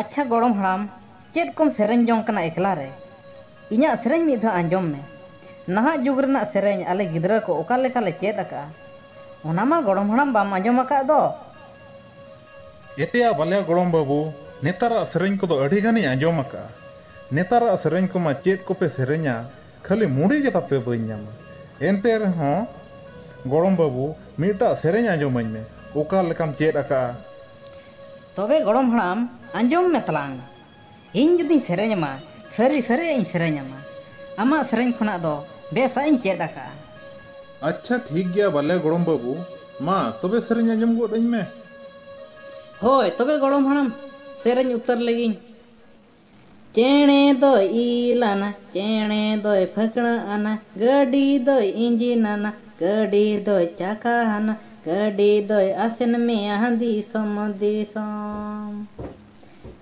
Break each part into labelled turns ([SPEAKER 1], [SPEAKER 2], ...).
[SPEAKER 1] ᱟᱪᱪᱷᱟ ᱜᱚᱲᱚᱢ ᱦᱟᱲᱟᱢ ᱪᱮᱫ ᱠᱚᱢ ᱥᱮᱨᱮᱧ ᱡᱚᱝ ᱠᱟᱱᱟ ᱮᱠᱞᱟ ᱨᱮ? ᱤᱧᱟᱜ ᱥᱮᱨᱮᱧ ᱢᱤᱫ ᱫᱷᱟᱣ ᱟᱸᱡᱚᱢ ᱢᱮ᱾ ᱱᱟᱦᱟᱜ ᱡᱩᱜᱽ ᱨᱮᱱᱟᱜ ᱥᱮᱨᱮᱧ ᱟᱞᱮ ᱜᱤᱫᱽᱨᱟᱹ ᱠᱚ ᱚᱠᱟ ᱞᱮᱠᱟ ᱞᱮ ᱪᱮᱫ ᱟᱠᱟᱫᱼᱟ᱾ ᱚᱱᱟ ᱢᱟ ᱜᱚᱲᱚᱢ ᱦᱟᱲᱟᱢ ᱵᱟᱢ ᱟᱸᱡᱚᱢ ᱟᱠᱟᱫ ᱫᱚ᱾ ᱮᱭᱟ ᱵᱟᱞᱭᱟ ᱜᱚᱲᱚᱢ ᱵᱟᱹᱵᱩ ᱱᱮᱛᱟᱨᱟᱜ ᱥᱮᱨᱮᱧ ᱠᱚᱫᱚ ᱟᱹᱰᱤ ᱜᱟᱱᱤᱧ ᱟᱸᱡᱚᱢ ᱟᱠᱟᱫᱼᱟ᱾ ᱱᱮᱛᱟᱨᱟᱜ ᱥᱮᱨᱮᱧ ᱠᱚᱢᱟ ᱪᱮᱫ ᱠᱚᱯᱮ ᱥᱮᱨᱮᱧᱟ ᱠᱷᱟᱹᱞᱤ ᱢᱩᱰᱤ ᱜᱮ ᱛᱟᱯᱮ ᱵᱟᱹᱧ ᱧᱟᱢᱟ᱾ ᱮᱱᱛᱮ ᱨᱮᱦᱚᱸ ᱜᱚᱲᱚᱢ ᱵᱟᱹᱵᱩ ᱢᱤᱫᱴᱟᱜ ᱥᱮᱨᱮᱧ ᱟᱸᱡᱚᱢᱟᱹᱧ ᱢᱮ ᱚᱠᱟ ᱞᱮᱠᱟᱢ ᱪᱮᱫ ᱟᱠᱟᱫᱼᱟ᱾ ᱛᱚᱵᱮ ᱜᱚᱲᱚᱢ ᱦᱟᱲᱟᱢ ᱟᱸᱡᱚᱢ ᱢᱮ ᱛᱟᱞᱟᱝ᱾ ᱤᱧ ᱡᱩᱫᱤᱧ ᱥᱮᱨᱮᱧ ᱟᱢᱟ ᱥᱟᱹᱨᱤ ᱥᱟᱹᱨᱤᱭᱟᱜ ᱤᱧ ᱥᱮᱨᱮᱧ ᱟᱢᱟ᱾ ᱟᱢᱟᱜ ᱥᱮᱨᱮᱧ ᱠᱷᱚᱱᱟᱜ ᱫᱚ ᱵᱮᱥᱟᱜ ᱤᱧ ᱪᱮᱫ ᱟᱠᱟᱜᱼᱟ᱾ ᱟᱪᱪᱷᱟ ᱴᱷᱤᱠ ᱜᱮᱭᱟ ᱵᱟᱞᱮ ᱜᱚᱲᱚᱢ ᱵᱟᱹᱵᱩ᱾ ᱢᱟ ᱛᱚᱵᱮ ᱥᱮᱨᱮᱧ ᱟᱸᱡᱚᱢ ᱜᱚᱫ ᱟᱹᱧ ᱢᱮ᱾ ᱦᱳᱭ ᱛᱚᱵᱮ ᱜᱚᱲᱚᱢ ᱦᱟᱲᱟᱢ ᱥᱮᱨᱮᱧ ᱩᱛᱟᱹᱨ ᱞᱮᱜᱤᱧ᱾ ᱪᱮᱬᱮ ᱫᱚᱭ ᱤᱞ ᱟᱱᱟ, ᱪᱮᱬᱮ ᱫᱚᱭ ᱯᱷᱟᱹᱠᱬᱟᱹ ᱟᱱᱟ, ᱜᱟᱹᱰᱤ ᱫᱚᱭ ᱤᱸᱡᱤᱱ ᱟᱱᱟ, ᱜᱟᱹᱰᱤ ᱫᱚᱭ ᱪᱟᱠᱟ ᱟᱱᱟ, ᱜᱟᱹᱰᱤ ᱫᱚᱭ ᱟᱥᱮᱱ ᱢᱮᱭᱟ ᱫᱤᱥᱚᱢ ᱫᱤᱥᱚᱢ᱾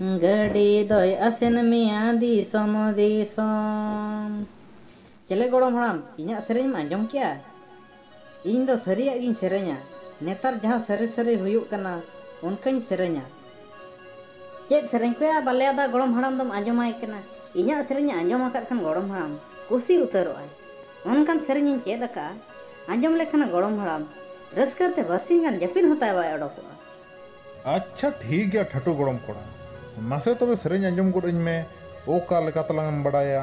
[SPEAKER 1] ᱜᱟᱹᱰᱤ ᱫᱚᱭ ᱟᱥᱮᱱ ᱢᱮᱭᱟ ᱫᱤᱥᱚᱢ ᱫᱤᱥᱚᱢ᱾ ᱪᱮᱞᱮ ᱜᱚᱲᱚᱢ ᱦᱟᱲᱟᱢ ᱤᱧᱟᱜ ᱥᱮᱨᱮᱧ ᱮᱢ ᱟᱸᱡᱚᱢ ᱠᱮᱜᱼᱟ? ᱤᱧ ᱫᱚ ᱥᱟᱹᱨᱤᱭᱟᱜ ᱜᱤᱧ ᱥᱮᱨᱮᱧᱟ᱾ ᱱᱮᱛᱟᱨ ᱡᱟᱦᱟᱸ ᱥᱟᱹᱨᱤ ᱥᱟᱹᱨᱤ ᱦᱩᱭᱩᱜ ᱠᱟᱱᱟ ᱚᱱᱠᱟᱧ ᱥᱮᱨᱮᱧᱟ᱾ ᱪᱮᱫ ᱥᱮᱨᱮᱧ ᱠᱚᱭᱟ ᱵᱟᱞᱮ ᱟᱫᱟ ᱜᱚᱲᱚᱢ ᱦᱟᱲᱟᱢ ᱫᱚᱢ ᱟᱸᱡᱚᱢᱟᱭ ᱠᱟᱱᱟ? ᱤᱧᱟᱜ ᱥᱮᱨᱮᱧ ᱮ ᱟᱸᱡᱚᱢ ᱟᱠᱟᱫ ᱠᱷᱟᱱ ᱜᱚᱲᱚᱢ ᱦᱟᱲᱟᱢ ᱠᱩᱥᱤ ᱩᱛᱟᱹᱨᱚᱜ ᱟᱭ᱾ ᱚᱱᱠᱟᱱ ᱥᱮᱨᱮᱧ ᱤᱧ ᱪᱮᱫ ᱟᱠᱟᱫᱼᱟ᱾ ᱟᱸᱡᱚᱢ ᱞᱮᱠᱷᱟᱱᱮ ᱜᱚᱲᱚᱢ ᱦᱟᱲᱟᱢ ᱨᱟᱹᱥᱠᱟᱹ ᱛᱮ ᱵᱟᱹᱨᱥᱤᱧ ᱜᱟᱱ ᱡᱟᱹᱯᱤᱫ ᱦᱚᱸ ᱛᱟᱭ ᱵᱟᱭ ᱚᱰᱚᱠᱚᱜᱼᱟ᱾ ᱟᱪᱪᱷᱟ ᱴᱷᱤᱠ ᱜᱮᱭᱟ ᱴᱷᱟᱹᱴᱩ ᱜᱚᱲᱚᱢ ᱠᱚᱲᱟ᱾ ᱢᱟᱥᱮ ᱛᱚᱵᱮ ᱥᱮᱨᱮᱧ ᱟᱸᱡᱚᱢ ᱜᱚᱫ ᱟᱹᱧ ᱢᱮ᱾ ᱚᱠᱟ ᱞᱮᱠᱟ ᱛᱟᱞᱟᱝ ᱮᱢ ᱵᱟᱰᱟᱭᱟ?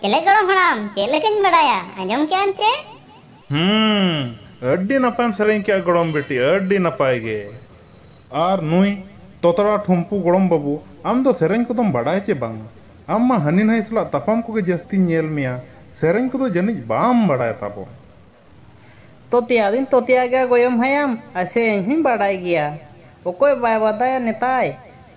[SPEAKER 1] ᱪᱮᱞᱮ ᱜᱚᱲᱚᱢ ᱦᱟᱲᱟᱢ ᱪᱮᱫ ᱞᱮᱠᱟᱧ ᱵᱟᱰᱟᱭᱟ ᱟᱸᱡᱚᱢ ᱠᱮᱜ ᱟᱢ ᱪᱮ ᱦᱩᱸ ᱟᱹᱰᱤ ᱱᱟᱯᱟᱭᱮᱢ ᱥᱮᱨᱮᱧ ᱠᱮᱜᱼᱟ ᱜᱚᱲᱚᱢ ᱵᱤᱴᱤ ᱟᱹᱰᱤ ᱱᱟᱯᱟᱭ ᱜᱮ᱾ ᱟᱨ ᱱᱩᱭ ᱛᱚᱛᱲᱟ ᱴᱷᱩᱢᱯᱩ ᱜᱚᱲᱚᱢ ᱵᱟᱹᱵᱩ ᱟᱢ ᱫᱚ ᱥᱮᱨᱮᱧ ᱠᱚᱫᱚᱢ ᱵᱟᱰᱟᱭᱟ ᱪᱮ ᱵᱟᱝᱟ? ᱟᱢ ᱢᱟ ᱦᱟᱹᱱᱤ ᱱᱷᱟᱹᱭ ᱥᱟᱞᱟᱜ ᱛᱟᱯᱟᱢ ᱠᱚᱜᱮ ᱡᱟᱹᱥᱛᱤᱧ ᱧᱮᱞ ᱢᱮᱭᱟ ᱥᱮᱨᱮᱧ ᱠᱚᱫᱚ ᱡᱟᱹᱱᱤᱡ ᱵᱟᱢ ᱵᱟᱰᱟᱭ ᱛᱟᱵᱚᱱ᱾ ᱛᱚᱛᱭᱟ ᱫᱩᱧ ᱛᱚᱛᱭᱟ ᱜᱮᱭᱟ ᱜᱚᱭᱚᱢ ᱦᱟᱭᱟᱢ ᱟᱨ ᱥᱮᱨᱮᱧ ᱦᱚᱸᱧ ᱵᱟᱰᱟᱭ ᱜᱮᱭᱟ᱾ ᱚᱠᱚᱭ ᱵᱟᱭ ᱵᱟᱫᱟᱭᱟ ᱱᱮᱛᱟᱭ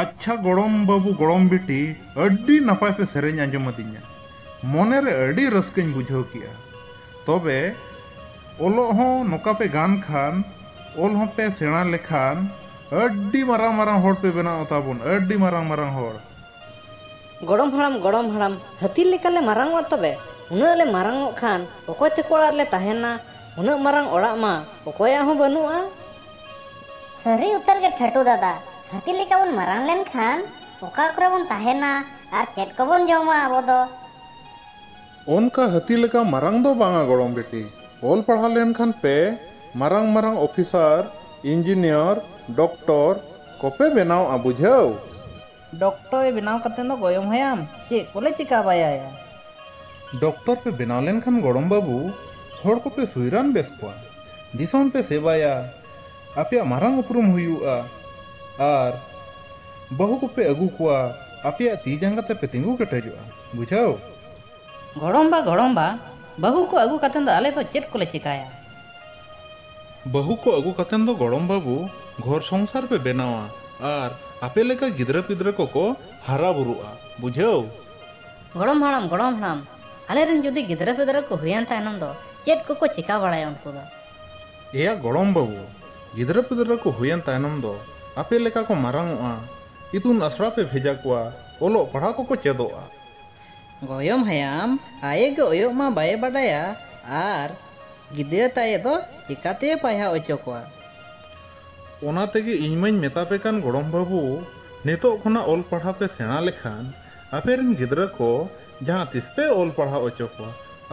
[SPEAKER 1] ᱟᱪᱪᱷᱟ ᱜᱚᱲᱚᱢ ᱵᱟᱹᱵᱩ ᱜᱚᱲᱚᱢ ᱵᱤᱴᱤ ᱟᱹᱰᱤ ᱱᱟᱯᱟᱭ ᱯᱮ ᱥᱮᱨᱮᱧ ᱟᱸᱡᱚᱢ ᱟᱹᱫᱤᱧᱟ ᱢᱚᱱᱮ ᱨᱮ ᱟᱹᱰᱤ ᱨᱟᱹᱥᱠᱟᱹᱧ ᱵᱩᱡᱷᱟᱹᱣ ᱠᱮᱫᱼᱟ ᱛᱚᱵᱮ ᱚᱞᱚᱜ ᱦᱚᱸ ᱱᱚᱠᱟ ᱯᱮ ᱜᱟᱱ ᱠᱷᱟᱱ ᱚᱞ ᱦᱚᱸ ᱯᱮ ᱥᱮᱬᱟ ᱞᱮᱠᱷᱟᱱ ᱟᱹᱰᱤ ᱢᱟᱨᱟᱝ ᱢᱟᱨᱟᱝ ᱦᱚᱲ ᱯᱮ ᱵᱮᱱᱟᱣᱜᱼᱟ ᱛᱟᱵᱚᱱ ᱟᱹᱰᱤ ᱢᱟᱨᱟᱝ ᱢᱟᱨᱟᱝ ᱦᱚᱲ᱾ ᱜᱚᱲᱚᱢ ᱦᱟᱲᱟᱢ ᱜᱚᱲᱚᱢ ᱦᱟᱲᱟᱢ ᱦᱟᱹᱛᱤ ᱞᱮᱠᱟ ᱞᱮ ᱢᱟᱨᱟᱝᱚᱜᱼᱟ ᱛᱚᱵᱮ ᱩᱱᱟᱹᱜ ᱞᱮ ᱢᱟᱨᱟᱝᱚᱜ ᱠᱷᱟᱱ ᱚᱠᱚᱭ ᱛᱮᱠᱚ ᱚᱲᱟᱜ ᱨᱮᱞᱮ ᱛᱟᱦᱮᱱᱟ ᱩᱱᱟᱹᱜ ᱢᱟᱨᱟᱝ ᱚᱲᱟᱜ ᱢᱟ ᱚᱠᱚᱭᱟᱜ ᱦᱚᱸ ᱵᱟᱹᱱᱩᱜᱼᱟ᱾ ᱥᱟᱹᱨᱤ ᱩᱛᱟᱹᱨ ᱜᱮ ᱴᱷᱟᱹᱴᱩ ᱫᱟᱫᱟ ᱦᱟᱹᱛᱤ ᱞᱮᱠᱟ ᱵᱚᱱ ᱢᱟᱨᱟᱝ ᱞᱮᱱ ᱠᱷᱟᱱ ᱚᱠᱟ ᱠᱚᱨᱮ ᱵᱚᱱ ᱛᱟᱦᱮᱱᱟ ᱟᱨ ᱪᱮᱫ ᱠᱚᱵᱚᱱ ᱡᱚᱢᱟ ᱟᱵᱚ ᱫᱚ? ᱚᱱᱠᱟ ᱦᱟᱹᱛᱤ ᱞᱮᱠᱟ ᱢᱟᱨᱟᱝ ᱫᱚ ᱵᱟᱝᱟ ᱜᱚᱲᱚᱢ ᱵᱤᱴᱤ᱾ ᱚᱞ ᱯᱟᱲᱦᱟᱣ ᱞᱮᱱ ᱠᱷᱟᱱ ᱯᱮ ᱢᱟᱨᱟᱝ ᱢᱟᱨᱟᱝ ᱚᱯᱷᱤᱥᱟᱨ, ᱤᱱᱡᱤᱱᱤᱭᱚᱨ, ᱰᱚᱠᱴᱚᱨ ᱠᱚᱯᱮ ᱵᱮᱱᱟᱣᱜᱼᱟ ᱵᱩᱡᱷᱟᱹᱣ᱾ ᱰᱚᱠᱴᱚ ᱮ ᱵᱮᱱᱟᱣ ᱠᱟᱛᱮ ᱫᱚ ᱜᱚᱭᱚᱢ ᱦᱟᱭᱟᱢ ᱪᱮᱫ ᱠᱚᱞᱮ ᱪᱮᱠᱟ ᱵᱟᱭᱟᱭᱟ᱾ ᱰᱚᱠᱴᱚᱨ ᱯᱮ ᱵᱮᱱᱟᱣ ᱞᱮᱱ ᱠᱷᱟᱱ ᱜᱚᱲᱚᱢ ᱵᱟᱹᱵᱩ ᱦᱚᱲ ᱠᱚᱯᱮ ᱥᱩᱭ ᱨᱟᱱ ᱵᱮᱥ ᱠᱚᱣᱟ, ᱫᱤᱥᱚᱢ ᱯᱮ ᱥᱮᱵᱟᱭᱟ, ᱟᱯᱮᱭᱟᱜ ᱢᱟᱨᱟᱝ ᱩᱯᱨᱩᱢ ᱦᱩᱭᱩᱜᱼᱟ ᱟᱨ ᱵᱟᱹᱦᱩ ᱠᱚᱯᱮ ᱟᱹᱜᱩ ᱠᱚᱣᱟ ᱟᱯᱮᱭᱟᱜ ᱛᱤ ᱡᱟᱸᱜᱟ ᱛᱮᱯᱮ ᱛᱤᱸᱜᱩ ᱠᱮᱴᱮᱡᱚᱜᱼᱟ᱾ ᱵᱩᱡᱷᱟᱹᱣ᱾ ᱜᱚᱲᱚᱢ ᱵᱟ ᱜᱚᱲᱚᱢ ᱵᱟ ᱵᱟᱹᱦᱩ ᱠᱚ ᱟᱹᱜᱩ ᱠᱟᱛᱮ ᱫᱚ ᱟᱞᱮ ᱫᱚ ᱪᱮᱫ ᱠᱚᱞᱮ ᱪᱮᱠᱟᱭᱟ᱾ ᱵᱟᱹᱦᱩ ᱠᱚ ᱟᱹᱜᱩ ᱠᱟᱛᱮᱱ ᱫᱚ ᱜᱚᱲᱚᱢ ᱵᱟᱹᱵᱩ ᱜᱷᱚᱨ ᱥᱚᱝᱥᱟᱨ ᱯᱮ ᱵᱮᱱᱟᱣᱟ ᱟᱨ ᱟᱯᱮ ᱞᱮᱠᱟ ᱜᱤᱫᱽᱨᱟᱹ ᱯᱤᱫᱽᱨᱟᱹ ᱠᱚ ᱠᱚ ᱦᱟᱨᱟ ᱵᱩᱨᱩᱜᱼᱟ᱾ ᱵᱩᱡᱷᱟᱹᱣ᱾ ᱜᱚᱲᱚᱢ ᱦᱟᱲᱟᱢ, ᱜᱚᱲᱚᱢ ᱦᱟᱲᱟᱢ, ᱟᱞᱮ ᱨᱮᱱ ᱡᱩᱫᱤ ᱜᱤᱫᱽᱨᱟᱹ ᱯᱤᱫᱽᱨᱟᱹ ᱠᱚ ᱦᱩᱭᱮᱱ ᱛᱟᱭᱱᱚᱢ ᱫᱚ ᱪᱮᱫ ᱠᱚ ᱠᱚ ᱪᱮᱠᱟ ᱵᱟᱲᱟᱭᱟ ᱩᱱᱠᱩ ᱫᱚ? ᱮᱭᱟ ᱜᱚᱲᱚᱢ ᱵᱟᱹᱵᱩ, ᱜᱤᱫᱽᱨᱟᱹ ᱯᱤᱫᱽᱨᱟᱹ ᱠᱚ ᱦᱩᱭᱮᱱ ᱛᱟᱭᱱᱚᱢ ᱫᱚ ᱟᱯᱮ ᱞᱮᱠᱟ ᱠᱚ ᱢᱟᱨᱟᱝᱚᱜᱼᱟ, ᱤᱛᱩᱱ ᱟᱥᱲᱟ ᱯᱮ ᱵᱷᱮᱡᱟ ᱠᱚᱣᱟ, ᱚᱞᱚᱜ ᱯᱟᱲᱦᱟᱣ ᱠᱚ ᱠᱚ ᱪᱮᱫᱚᱜᱼᱟ᱾ ᱜᱚᱭᱚᱢ ᱦᱟᱭᱟᱢ ᱟᱭᱮ ᱜᱮ ᱚᱭᱚᱜ ᱢᱟ ᱵᱟᱭᱮ ᱵᱟᱰᱟᱭᱟ ᱟᱨ ᱜᱤᱫᱽᱨᱟᱹ ᱛᱟᱭᱮ ᱫᱚ ᱪᱮᱠᱟ ᱛᱮᱭᱮ ᱯᱟᱭᱦᱟᱣ ᱚᱪᱚ ᱠᱚᱣᱟ᱾ ᱚᱱᱟ ᱛᱮᱜᱮ ᱤᱧ ᱢᱟᱹᱧ ᱢᱮᱛᱟ ᱯᱮ ᱠᱟᱱ ᱜᱚᱲᱚᱢ ᱵᱟᱹᱵᱩ ᱱᱤᱛᱚᱜ ᱠᱷᱚᱱᱟᱜ ᱚᱞ ᱯᱟᱲᱦᱟᱣ ᱯᱮ ᱥᱮᱬᱟ ᱞᱮᱠᱷᱟᱱ ᱟᱯᱮ ᱨᱤᱱ ᱜᱤᱫᱽᱨᱟᱹ ᱠᱚ ᱡᱟᱦᱟᱸ ᱛᱤᱥ ᱯᱮ ᱚᱞ ᱯᱟᱲᱦᱟᱣ ᱚᱪᱚ ᱠᱚᱣᱟ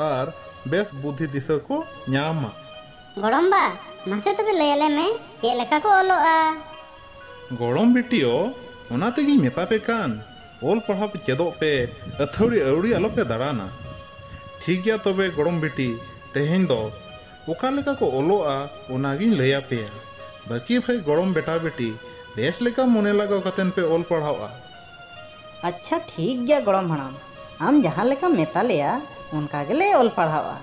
[SPEAKER 1] ᱟᱨ ᱵᱮᱥ ᱵᱩᱫᱷᱤ ᱫᱤᱥᱟᱹ ᱠᱚ ᱧᱟᱢᱟ᱾ ᱜᱚᱲᱚᱢ ᱵᱟ ᱢᱟᱥᱮ ᱛᱚᱵᱮ ᱞᱟᱹᱭ ᱟᱞᱮ ᱢᱮ ᱪᱮᱫ ᱞᱮᱠᱟ ᱠᱚ ᱚᱞᱚᱜᱼᱟ᱾ ᱜᱚᱲᱚᱢ ᱵᱤᱴᱤᱭᱚ ᱚᱱᱟ ᱛᱮᱜᱮᱧ ᱢᱮᱛᱟ ᱯᱮ ᱠᱟᱱ ᱚᱞ ᱯᱟᱲᱦᱟᱣ ᱯᱮ ᱪᱮᱫᱚᱜ ᱯᱮ ᱟᱹᱛᱷᱟᱹᱣᱲᱤ ᱟᱹᱣᱲᱤ ᱟᱞᱚ ᱯᱮ ᱫᱟᱲᱟᱱᱟ᱾ ᱴᱷᱤᱠ ᱜᱮᱭᱟ ᱛᱚᱵᱮ ᱜᱚᱲᱚᱢ ᱵᱤᱴᱤ ᱛᱮᱦᱮᱧ ᱫᱚ ᱚᱠᱟ ᱞᱮᱠᱟ ᱠᱚ ᱚᱞᱚᱜᱼᱟ ᱚᱱᱟ ᱜᱤᱧ ᱞᱟᱹᱭ ᱟᱯᱮᱭᱟ᱾ ᱵᱟᱹᱠᱤ ᱵᱷᱟᱹᱭ ᱜᱚᱲᱚᱢ ᱵᱮᱴᱟ ᱵᱮᱴᱤ ᱵᱮᱥ ᱞᱮᱠᱟ ᱢᱚᱱᱮ ᱞᱟᱜᱟᱣ ᱠᱟᱛᱮ ᱯᱮ ᱚᱞ ᱯᱟᱲᱦᱟᱣᱜᱼᱟ᱾ ᱟᱪᱪᱷᱟ ᱴᱷᱤᱠ ᱜᱮᱭᱟ ᱜᱚᱲᱚᱢ ᱦᱟᱲᱟᱢ ᱟᱢ ᱡᱟᱦᱟᱸ ᱞᱮᱠᱟᱢ ᱢᱮᱛᱟ ᱞᱮᱭᱟ ᱚᱱᱠᱟ ᱜᱮᱞᱮ ᱚᱞ ᱯᱟᱲᱦᱟᱣᱜᱼᱟ᱾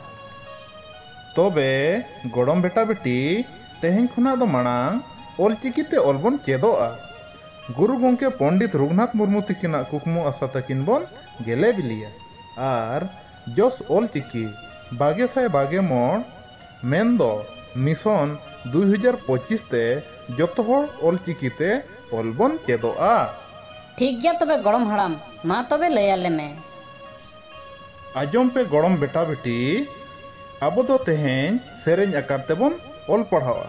[SPEAKER 1] ᱛᱚᱵᱮ ᱜᱚᱲᱚᱢ ᱵᱮᱴᱟ ᱵᱮᱴᱤ ᱛᱮᱦᱮᱧ ᱠᱷᱚᱱᱟᱜ ᱫᱚ ᱢᱟᱲᱟᱝ ᱚᱞ ᱪᱤᱠᱤ ᱛᱮ ᱚᱞ ᱵᱚᱱ ᱪᱮᱫᱚᱜᱼᱟ᱾ ᱜᱩᱨᱩ ᱜᱚᱢᱠᱮ ᱯᱚᱱᱰᱤᱛ ᱨᱚᱜᱷᱩᱱᱟᱛᱷ ᱢᱩᱨᱢᱩ ᱛᱤᱠᱤᱱᱟᱜ ᱠᱩᱠᱢᱩ ᱟᱥᱟ ᱛᱟᱹᱠᱤᱱ ᱵᱚᱱ ᱜᱮᱞᱮ ᱵᱤᱞᱤᱭᱟ ᱟᱨ ᱡᱚᱥ ᱚᱞ ᱪᱤᱠᱤ ᱵᱟᱜᱮ ᱥᱟᱭ ᱵᱟᱜᱮ ᱢᱚᱬ ᱢᱮᱱ ᱫᱚ ᱢᱤᱥᱚᱱ ᱫᱩᱭ ᱦᱟᱡᱟᱨ ᱯᱚᱸᱪᱤᱥ ᱛᱮ ᱡᱚᱛᱚ ᱦᱚᱲ ᱚᱞ ᱪᱤᱠᱤ ᱛᱮ ᱚᱞ ᱵᱚᱱ ᱪᱮᱫᱚᱜᱼᱟ᱾ ᱴᱷᱤᱠ ᱜᱮᱭᱟ ᱛᱚᱵᱮ ᱜᱚᱲᱚᱢ ᱦᱟᱲᱟᱢ ᱢᱟ ᱛᱚᱵᱮ ᱞᱟᱹᱭ ᱟᱞᱮ ᱢᱮ᱾ ᱟᱸᱡᱚᱢ ᱯᱮ ᱜᱚᱲᱚᱢ ᱵᱮᱴᱟ ᱵᱮᱴᱤ ᱟᱵᱚ ᱫᱚ ᱛᱮᱦᱮᱧ ᱥᱮᱨᱮᱧ ᱟᱠᱟᱨ ᱛᱮᱵᱚᱱ ᱚᱞ ᱯᱟᱲᱦᱟᱣᱜᱼᱟ᱾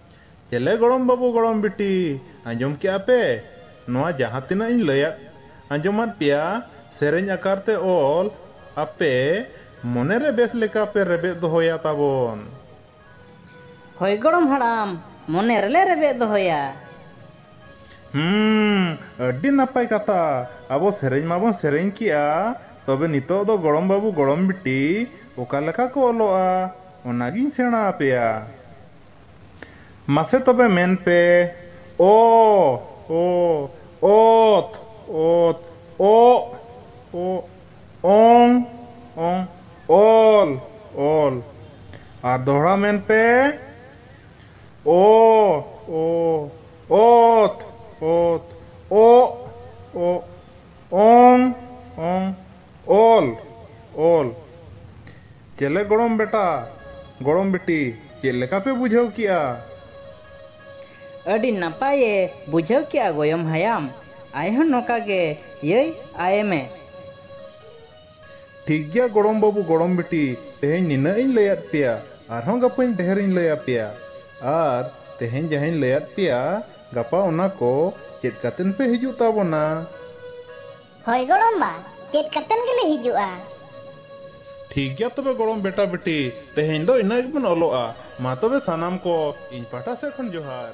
[SPEAKER 1] ᱪᱮᱞᱮ ᱜᱚᱲᱚᱢ ᱵᱟᱹᱵᱩ ᱜᱚᱲᱚᱢ ᱵᱤᱴᱤ ᱟᱸᱡᱚᱢ ᱠᱮᱫᱼᱟ ᱯᱮ ᱱᱚᱶᱟ ᱡᱟᱦᱟᱸ ᱛᱤᱱᱟᱹᱜ ᱤᱧ ᱞᱟᱹᱭ ᱟᱫ ᱟᱸᱡᱚᱢᱟᱫ ᱯᱮᱭᱟ ᱥᱮᱨᱮᱧ ᱟᱠᱟᱨ ᱛᱮ ᱚᱞ ᱟᱯᱮ ᱢᱚᱱᱮ ᱨᱮ ᱵᱮᱥ ᱞᱮᱠᱟ ᱯᱮ ᱨᱮᱵᱮᱫ ᱫᱚᱦᱚᱭᱟ ᱛᱟᱵᱚᱱ᱾ ᱦᱚᱭ ᱜᱚᱲᱚᱢ ᱦᱟᱲᱟᱢ ᱢᱚᱱᱮ ᱨᱮᱞᱮ ᱨᱮᱵᱮᱫ ᱫᱚᱦᱚᱭᱟ᱾ ᱦᱩᱸ ᱟᱹᱰᱤ ᱱᱟᱯᱟᱭ ᱠᱟᱛᱷᱟ ᱟᱵᱚ ᱥᱮᱨᱮᱧ ᱢᱟᱵᱚᱱ ᱥᱮᱨᱮᱧ ᱠᱮᱫᱼᱟ ᱛᱚᱵᱮ ᱱᱤᱛᱚᱜ ᱫᱚ ᱜᱚᱲᱚᱢ ᱵᱟᱹᱵᱩ ᱜᱚᱲᱚᱢ ᱵᱤᱴᱤ ᱚᱠᱟ ᱞᱮᱠᱟ ᱠᱚ ᱚᱞᱚᱜᱼᱟ ᱚᱱᱟ ᱜᱤᱧ ᱥᱮᱬᱟ ᱟᱯᱮᱭᱟ᱾ ᱢᱟᱥᱮ ᱛᱚᱵᱮ ᱢᱮᱱ ᱯᱮ ᱚ, ᱚ, ᱚᱛ, ᱚᱛ, ᱚᱜ, ᱚᱜ, ᱚᱝ, ᱚᱝ, ᱚᱞ, ᱚᱞ᱾ ᱟᱨ ᱫᱚᱦᱲᱟ ᱢᱮᱱ ᱯᱮ ᱚ, ᱚ, ᱚᱛ, ᱚᱛ, ᱚᱜ, ᱚᱜ, ᱚᱝ, ᱚᱝ, ᱚᱞ, ᱚᱞ᱾ ᱪᱮᱞᱮ ᱜᱚᱲᱚᱢ ᱵᱮᱴᱟ ᱜᱚᱲᱚᱢ ᱵᱤᱴᱤ ᱪᱮᱫ ᱞᱮᱠᱟ ᱯᱮ ᱵᱩᱡᱷᱟᱹᱣ ᱠᱮᱜᱼᱟ? ᱟᱹᱰᱤ ᱱᱟᱯᱟᱭ ᱮ ᱵᱩᱡᱷᱟᱹᱣ ᱠᱮᱜᱼᱟ ᱜᱚᱭᱚᱢ ᱦᱟᱭᱟᱢ᱾ ᱟᱭ ᱦᱚᱸ ᱱᱚᱠᱟ ᱜᱮ ᱭᱟᱹᱭ ᱟᱭᱮ ᱢᱮ᱾ ᱴᱷᱤᱠ ᱜᱮᱭᱟ ᱜᱚᱲᱚᱢ ᱵᱟᱹᱵᱩ ᱜᱚᱲᱚᱢ ᱵᱤᱴᱤ ᱛᱮᱦᱮᱧ ᱱᱤᱱᱟᱹᱜ ᱤᱧ ᱞᱟᱹᱭ ᱟᱫ ᱯᱮᱭᱟ ᱟᱨᱦᱚᱸ ᱜᱟᱯᱟᱹᱧ ᱰᱷᱮᱨ ᱤᱧ ᱞᱟᱹᱭ ᱟᱯᱮᱭᱟ᱾ ᱟᱨ ᱛᱮᱦᱮᱧ ᱡᱟᱦᱟᱸᱧ ᱞᱟᱹᱭ ᱟᱫ ᱯᱮᱭᱟ ᱜᱟᱯᱟ ᱚᱱᱟ ᱠᱚ ᱪᱮᱫ ᱠᱟᱛᱮᱱ ᱯᱮ ᱦᱤᱡᱩᱜ ᱛᱟᱵᱚᱱᱟ᱾ ᱦᱳᱭ ᱜᱚᱲᱚᱢ ᱵᱟ ᱪᱮᱫ ᱠᱟᱛᱮᱱ ᱜᱮᱞᱮ ᱦᱤᱡᱩᱜᱼᱟ᱾ ᱴᱷᱤᱠ ᱜᱮᱭᱟ ᱛᱚᱵᱮ ᱜᱚᱲᱚᱢ ᱵᱮᱴᱟ ᱵᱮᱴᱤ ᱛᱮᱦᱮᱧ ᱫᱚ ᱤᱱᱟᱹᱜ ᱜᱮᱵᱚᱱ ᱚᱞᱚᱜᱼᱟ ᱢᱟ ᱛᱚᱵᱮ ᱥᱟᱱᱟᱢ ᱠᱚ ᱤᱧ ᱯᱟᱦᱴᱟ ᱥᱮᱫ ᱠᱷᱚᱱ ᱡᱚᱦᱟᱨ᱾